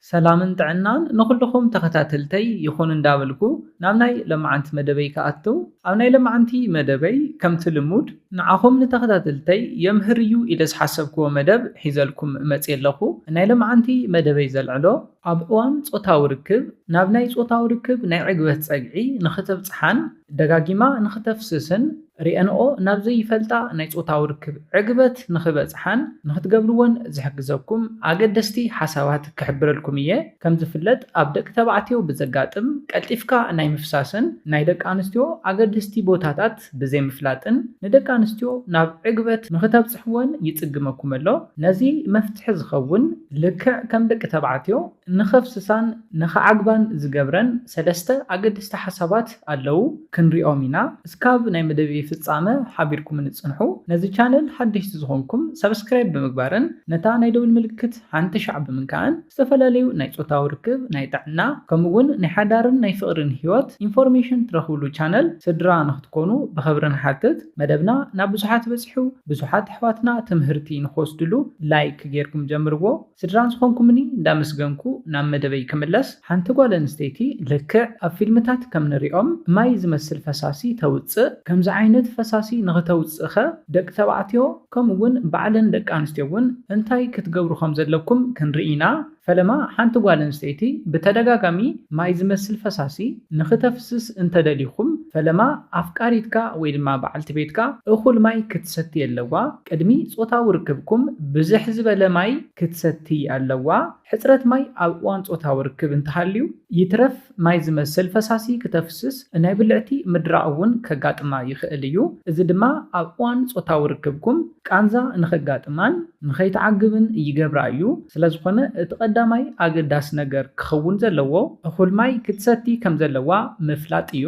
ሰላምን ጥዕናን ንኹልኹም ተኸታተልተይ ይኹን እንዳበልኩ ናብ ናይ ለማዓንቲ መደበይ ክኣቱ ኣብ ናይ ለማዓንቲ መደበይ ከምቲ ልሙድ ንዓኹም ንተኸታተልተይ የምህር እዩ ኢለ ዝሓሰብክዎ መደብ ሒዘልኩም መጽየ ኣለኹ ናይ ለማዓንቲ መደበይ ዘልዕሎ ኣብ እዋን ጾታዊ ርክብ ናብ ናይ ጾታዊ ርክብ ናይ ዕግበት ጸግዒ ንኽተብጽሓን ደጋጊማ ንኽተፍስስን ርእየንኦ ናብ ዘይፈልጣ ናይ ጾታዊ ርክብ ዕግበት ንኽበጽሓን ንኽትገብርዎን ዝሕግዘኩም ኣገደስቲ ሓሳባት ክሕብረልኩም እየ። ከም ዝፍለጥ ኣብ ደቂ ተባዕትዮ ብዘጋጥም ቀልጢፍካ ናይ ምፍሳስን ናይ ደቂ ኣንስትዮ ኣገደስቲ ቦታታት ብዘይምፍላጥን ንደቂ ኣንስትዮ ናብ ዕግበት ንኽተብጽሕወን ይጽግመኩም ኣሎ። ነዚ መፍትሒ ዝኸውን ልክዕ ከም ደቂ ተባዕትዮ፣ ንኸፍስሳን ንኸዓግባን ዝገብረን ሰለስተ ኣገደስቲ ሓሳባት ኣለዉ ክንሪኦም ኢና እስካብ ናይ መደብይ ፍጻመ ሓቢርኩምኒ ጽንሑ ነዚ ቻነል ሓደሽቲ ዝኾንኩም ሳብስክራይብ ብምግባርን ነታ ናይ ደውል ምልክት ሓንቲ ሻዕ ብምንካእን ዝተፈላለዩ ናይ ጾታዊ ርክብ ናይ ጥዕና ከምኡ ውን ናይ ሓዳርን ናይ ፍቅርን ሂወት ኢንፎርሜሽን ትረኽብሉ ቻነል ስድራ ንኽትኮኑ ብኽብሪ ንሓትት መደብና ናብ ብዙሓት በጺሑ ብዙሓት ኣሕዋትና ትምህርቲ ንኽወስድሉ ላይክ ጌርኩም ጀምርዎ። ስድራ ዝኾንኩምኒ እንዳመስገንኩ ናብ መደበይ ክምለስ፣ ሓንቲ ጓል ኣንስተይቲ ልክዕ ኣብ ፊልምታት ከም ንሪኦም ማይ ዝመስል ፈሳሲ ተውጽእ፣ ከምዚ ዓይነት ፈሳሲ ንኽተውጽእ'ኸ ደቂ ተባዕትዮ ከምኡ ውን ባዕለን ደቂ ኣንስትዮ ውን እንታይ ክትገብሩ ከም ዘለኩም ክንርኢ ኢና፣ ፈለማ ሓንቲ ጓል ኣንስተይቲ ብተደጋጋሚ ማይ ዝመስል ፈሳሲ ንኽተፍስስ እንተ ደሊኹም ፈለማ ኣፍቃሪትካ ወይ ድማ በዓልቲ ቤትካ እኹል ማይ ክትሰቲ ኣለዋ፣ ቅድሚ ጾታዊ ርክብኩም ብዝሕ ዝበለ ማይ ክትሰትዪ ኣለዋ። ሕጽረት ማይ ኣብ እዋን ጾታዊ ርክብ እንተሃልዩ፣ ይትረፍ ማይ ዝመስል ፈሳሲ ክተፍስስ፣ ናይ ብልዕቲ ምድራቕ እውን ከጋጥማ ይኽእል እዩ። እዚ ድማ ኣብ እዋን ጾታዊ ርክብኩም ቃንዛ ንኸጋጥማን ንኸይትዓግብን ይገብራ እዩ። ስለዝኾነ እቲ ቀዳማይ ኣገዳሲ ነገር ክኸውን ዘለዎ፣ እኹል ማይ ክትሰቲ ከምዘለዋ ምፍላጥ እዩ።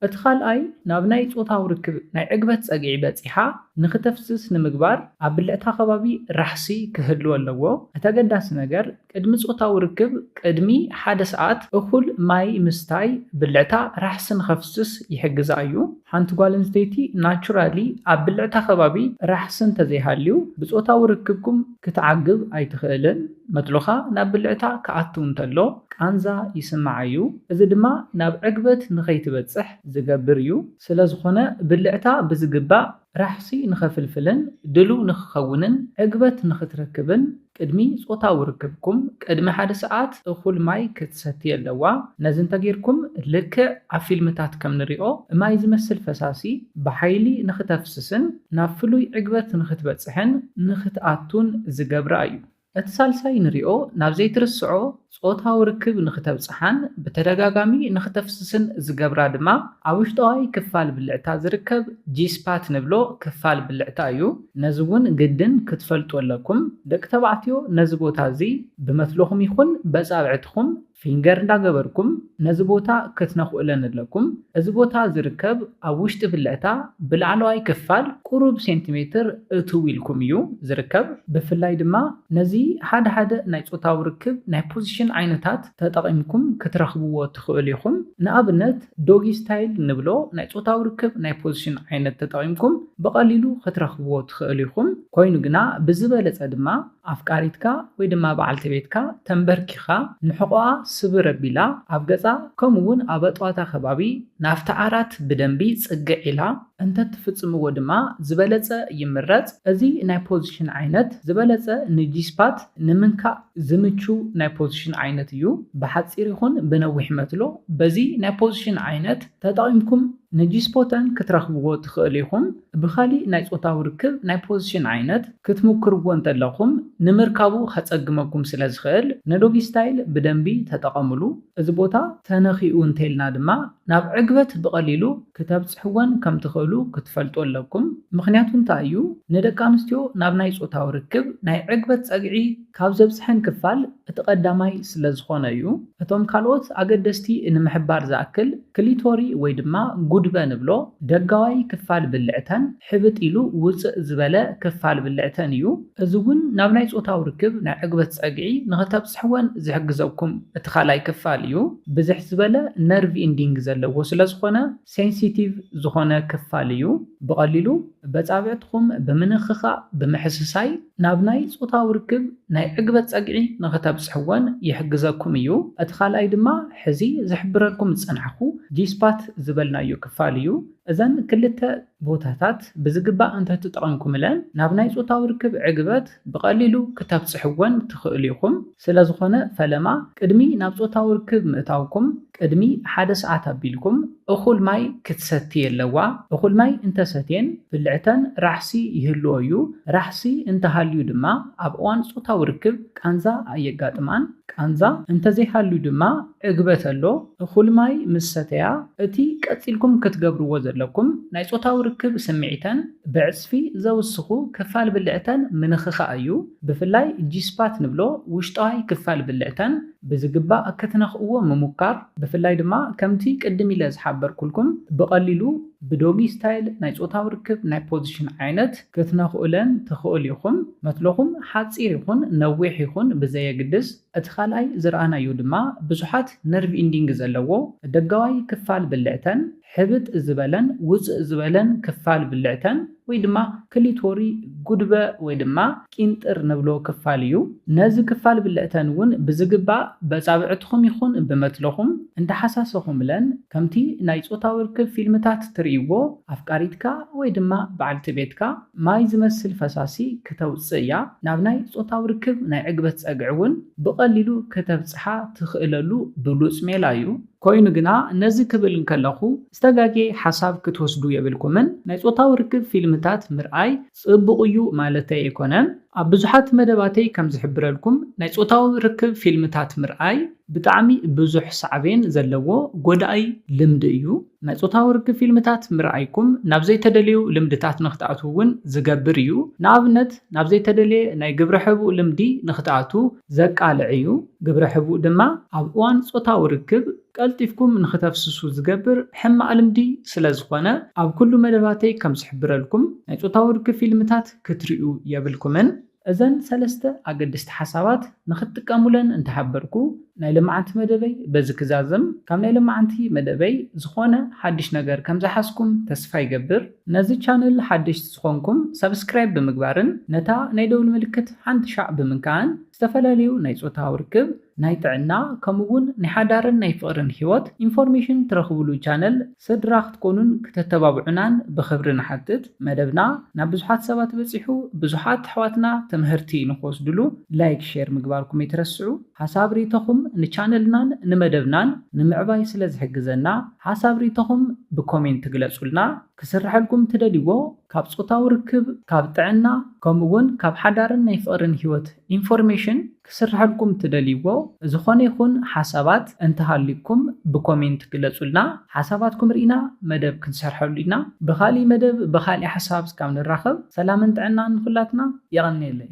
እቲ ካልኣይ ናብ ናይ ጾታዊ ርክብ ናይ ዕግበት ጸግዒ በጺሓ ንኽተፍስስ ንምግባር ኣብ ብልዕታ ከባቢ ራሕሲ ክህሉ ኣለዎ። እቲ ኣገዳሲ ነገር ቅድሚ ጾታዊ ርክብ ቅድሚ ሓደ ሰዓት እኹል ማይ ምስታይ ብልዕታ ራሕሲ ንኸፍስስ ይሕግዛ እዩ። ሓንቲ ጓል ኣንስተይቲ ናቹራሊ ኣብ ብልዕታ ከባቢ ራሕሲ እንተዘይሃልዩ ብጾታዊ ርክብኩም ክትዓግብ ኣይትኽእልን። መትሎኻ ናብ ብልዕታ ክኣቱ እንተሎ ቃንዛ ይስምዓ'ዩ፣ እዚ ድማ ናብ ዕግበት ንኸይትበጽሕ ዝገብር'ዩ። ስለዝኾነ ብልዕታ ብዝግባእ ራሕሲ ንኸፍልፍልን ድሉው ንኽኸውንን ዕግበት ንኽትረክብን ቅድሚ ጾታዊ ርክብኩም ቅድሚ ሓደ ሰዓት እኹል ማይ ክትሰቲ ኣለዋ። ነዚ እንተጌርኩም ልክዕ ኣብ ፊልምታት ከም ንሪኦ ማይ ዝመስል ፈሳሲ ብሓይሊ ንኽተፍስስን፣ ናብ ፍሉይ ዕግበት ንኽትበጽሕን ንኽትኣቱን ዝገብራ እዩ። እቲ ሳልሳይ ንሪኦ ናብ ዘይትርስዖ ጾታዊ ርክብ ንኽተብጽሓን ብተደጋጋሚ ንኽተፍስስን ዝገብራ ድማ ኣብ ውሽጠዋይ ክፋል ብልዕታ ዝርከብ ጂ-ስፓት ንብሎ ክፋል ብልዕታ እዩ። ነዚ እውን ግድን ክትፈልጡ ኣለኩም። ደቂ ተባዕትዮ ነዚ ቦታ እዚ ብመትሎኹም ይኹን በጻብዕትኹም ፊንገር እንዳገበርኩም ነዚ ቦታ ክትነኽኡለ ንለኩም። እዚ ቦታ ዝርከብ ኣብ ውሽጢ ብልዕታ ብላዕለዋይ ክፋል ቁሩብ ሴንቲሜትር እትው ኢልኩም እዩ ዝርከብ። ብፍላይ ድማ ነዚ ሓደ ሓደ ናይ ጾታዊ ርክብ ናይ ፖዚሽን ዓይነታት ተጠቒምኩም ክትረኽብዎ ትኽእሉ ኢኹም። ንኣብነት ዶጊ ስታይል ንብሎ ናይ ጾታዊ ርክብ ናይ ፖዚሽን ዓይነት ተጠቒምኩም ብቐሊሉ ክትረኽብዎ ትኽእሉ ኢኹም። ኮይኑ ግና ብዝበለጸ ድማ። ኣፍቃሪትካ ወይ ድማ በዓልቲ ቤትካ ተምበርኪኻ ንሕቖኣ ስብር ኣቢላ ኣብ ገጻ ከምኡ ውን ኣብ ኣጥዋታ ከባቢ ናብቲ ዓራት ብደንቢ ጽግዕ ኢላ እንተትፍጽምዎ ድማ ዝበለጸ ይምረጽ። እዚ ናይ ፖዚሽን ዓይነት ዝበለጸ ንጂስፓት ንምንካእ ዝምቹ ናይ ፖዚሽን ዓይነት እዩ። ብሓጺር ይኹን ብነዊሕ መትሎ በዚ ናይ ፖዚሽን ዓይነት ተጠቒምኩም። ንጂስፖተን ክትረኽብዎ ትኽእሉ ኢኹም። ብኻሊእ ናይ ጾታዊ ርክብ ናይ ፖዚሽን ዓይነት ክትሙክርዎ እንተለኹም ንምርካቡ ከጸግመኩም ስለ ዝኽእል ንዶጊስታይል ብደንቢ ተጠቐምሉ። እዚ ቦታ ተነኺኡ እንተኢልና ድማ ናብ ዕግበት ብቐሊሉ ክተብጽሕወን ከም ትኽእሉ ክትፈልጡ ኣለኩም። ምኽንያቱ እንታይ እዩ? ንደቂ ኣንስትዮ ናብ ናይ ጾታዊ ርክብ ናይ ዕግበት ጸግዒ ካብ ዘብጽሐን ክፋል እቲ ቀዳማይ ስለ ዝኾነ እዩ። እቶም ካልኦት ኣገደስቲ ንምሕባር ዝኣክል፣ ክሊቶሪ ወይ ድማ ጉድበ ንብሎ ደጋዋይ ክፋል ብልዕተን ሕብጥ ኢሉ ውጽእ ዝበለ ክፋል ብልዕተን እዩ። እዚ እውን ናብ ናይ ጾታዊ ርክብ ናይ ዕግበት ጸግዒ ንኽተብጽሕወን ዝሕግዘኩም እቲ ካልኣይ ክፋል እዩ። ብዝሕ ዝበለ ነርቭ ኢንዲንግ ዘለዎ ስለ ዝኾነ ሴንሲቲቭ ዝኾነ ክፋል እዩ። ብቐሊሉ በጻብዕትኹም ብምንኽኻእ ብምሕስሳይ ናብ ናይ ጾታዊ ርክብ ናይ ዕግበት ጸግዒ ንኽተብጽሕዎን ይሕግዘኩም እዩ። እቲ ካልኣይ ድማ ሕዚ ዝሕብረልኩም ዝጸናሕኩ G-spot ዝበልናዮ ክፋል እዩ። እዘን ክልተ ቦታታት ብዝግባእ እንተትጠቐምኩምለን ናብ ናይ ጾታዊ ርክብ ዕግበት ብቐሊሉ ክተብጽሕዎን ትኽእሉ ኢኹም። ስለዝኾነ ፈለማ ቅድሚ ናብ ጾታዊ ርክብ ምእታውኩም ቅድሚ ሓደ ሰዓት ኣቢልኩም እኹል ማይ ክትሰቲ የለዋ፣ እኹል ማይ እንተሰትየን ብልዕተን ራሕሲ ይህልዎ እዩ፣ ራሕሲ እንተሃልዩ ድማ ኣብ እዋን ጾታዊ ርክብ ቃንዛ ኣየጋጥማን፣ ቃንዛ እንተዘይሃልዩ ድማ ዕግበት ኣሎ፣ እኹል ማይ ምስ ሰተያ እቲ ቀጺልኩም ክትገብርዎ ዘለኩም ናይ ጾታዊ ርክብ ስምዒተን ብዕጽፊ ዘውስኹ ክፋል ብልዕተን ምንኽኻእ እዩ፣ ብፍላይ ጂስፓት ንብሎ ውሽጣዋይ ክፋል ብልዕተን፣ ብዝግባእ ክትነኽእዎ ምሙካር ብፍላይ ድማ ከምቲ ቅድም ኢለ ዝሓበርኩልኩም ብቐሊሉ ብዶጊ ስታይል ናይ ጾታዊ ርክብ ናይ ፖዚሽን ዓይነት ክትነኽኡለን ትኽእሉ ኢኹም። መትሎኹም ሓጺር ይኹን ነዊሕ ይኹን ብዘየግድስ እቲ ካልኣይ ዝረኣናዮ ድማ ብዙሓት ነርቭ ኢንዲንግ ዘለዎ ደጋዋይ ክፋል ብልዕተን፣ ሕብጥ ዝበለን ውጽእ ዝበለን ክፋል ብልዕተን ወይ ድማ ክሊቶሪ ጉድበ ወይ ድማ ቂንጥር ንብሎ ክፋል እዩ። ነዚ ክፋል ብልዕተን እውን ብዝግባእ በጻብዕትኹም ይኹን ብመትሎኹም እንዳሓሳሰኹምለን ከምቲ ናይ ጾታዊ ርክብ ፊልምታት ትርእይዎ ኣፍቃሪትካ ወይ ድማ በዓልቲ ቤትካ ማይ ዝመስል ፈሳሲ ክተውጽእ እያ ናብ ናይ ጾታዊ ርክብ ናይ ዕግበት ጸግዒ እውን ብቐሊሉ ክተብጽሓ ትኽእለሉ ብሉጽ ሜላ እዩ። ኮይኑ ግና ነዚ ክብል እንከለኹ ዝተጋጌ ሓሳብ ክትወስዱ የብልኩምን። ናይ ጾታዊ ርክብ ፊልምታት ምርኣይ ጽቡቕ እዩ ማለተይ ኣይኮነን። ኣብ ብዙሓት መደባተይ ከም ዝሕብረልኩም ናይ ጾታዊ ርክብ ፊልምታት ምርኣይ ብጣዕሚ ብዙሕ ሳዕቤን ዘለዎ ጎዳኢ ልምዲ እዩ። ናይ ጾታዊ ርክብ ፊልምታት ምርኣይኩም ናብ ዘይተደለዩ ልምድታት ንክትኣትዉ እውን ዝገብር እዩ። ንኣብነት ናብ ዘይተደለየ ናይ ግብረ ሕቡእ ልምዲ ንክትኣትዉ ዘቃልዕ'ዩ፣ ግብረ ሕቡእ ድማ ኣብ እዋን ጾታዊ ርክብ ቀልጢፍኩም ንኽተፍስሱ ዝገብር ሕማቕ ልምዲ ስለ ዝኾነ፣ ኣብ ኩሉ መደባተይ ከም ዝሕብረልኩም፣ ናይ ጾታዊ ርክብ ፊልምታት ክትርእዩ የብልኩምን። እዘን ሰለስተ ኣገደስቲ ሓሳባት ንኽትጥቀሙለን እንተሓበርኩ፣ ናይ ሎማዓንቲ መደበይ በዚ ክዛዝም፣ ካብ ናይ ሎማዓንቲ መደበይ ዝኾነ ሓድሽ ነገር ከም ዝሓዝኩም ተስፋ ይገብር። ነዚ ቻነል ሓደሽቲ ዝኾንኩም ሳብስክራይብ ብምግባርን ነታ ናይ ደውል ምልክት ሓንቲ ሻዕ ብምንካእን ዝተፈላለዩ ናይ ፆታዊ ርክብ፣ ናይ ጥዕና ከምኡ እውን ናይ ሓዳርን ናይ ፍቕርን ህይወት ኢንፎርሜሽን ትረኽብሉ ቻነል ስድራ ክትኮኑን ክተተባብዑናን ብኽብሪ ንሓትት። መደብና ናብ ብዙሓት ሰባት በፂሑ ብዙሓት ኣሕዋትና ትምህርቲ ንኽወስድሉ ላይክ ሼር ምግባርኩም ኣይትረስዑ። ሓሳብ ሪኢቶኹም ንቻነልናን ንመደብናን ንምዕባይ ስለ ዝሕግዘና ሓሳብ ሪኢቶኹም ብኮሜንት ግለጹልና። ክስርሐልኩም ትደልይዎ ካብ ጾታዊ ርክብ፣ ካብ ጥዕና ከምኡ ውን ካብ ሓዳርን ናይ ፍቕርን ሂወት ኢንፎርሜሽን ክስርሐልኩም ትደልይዎ ዝኾነ ይኹን ሓሳባት እንተሃልዩኩም ብኮሜንት ግለጹልና ሓሳባትኩም ሪኢና መደብ ክንሰርሐሉ ኢና ብኻሊእ መደብ ብኻሊእ ሓሳብ እስካብ ንራኸብ ሰላምን ጥዕናን ንኹላትና የቐንየለይ።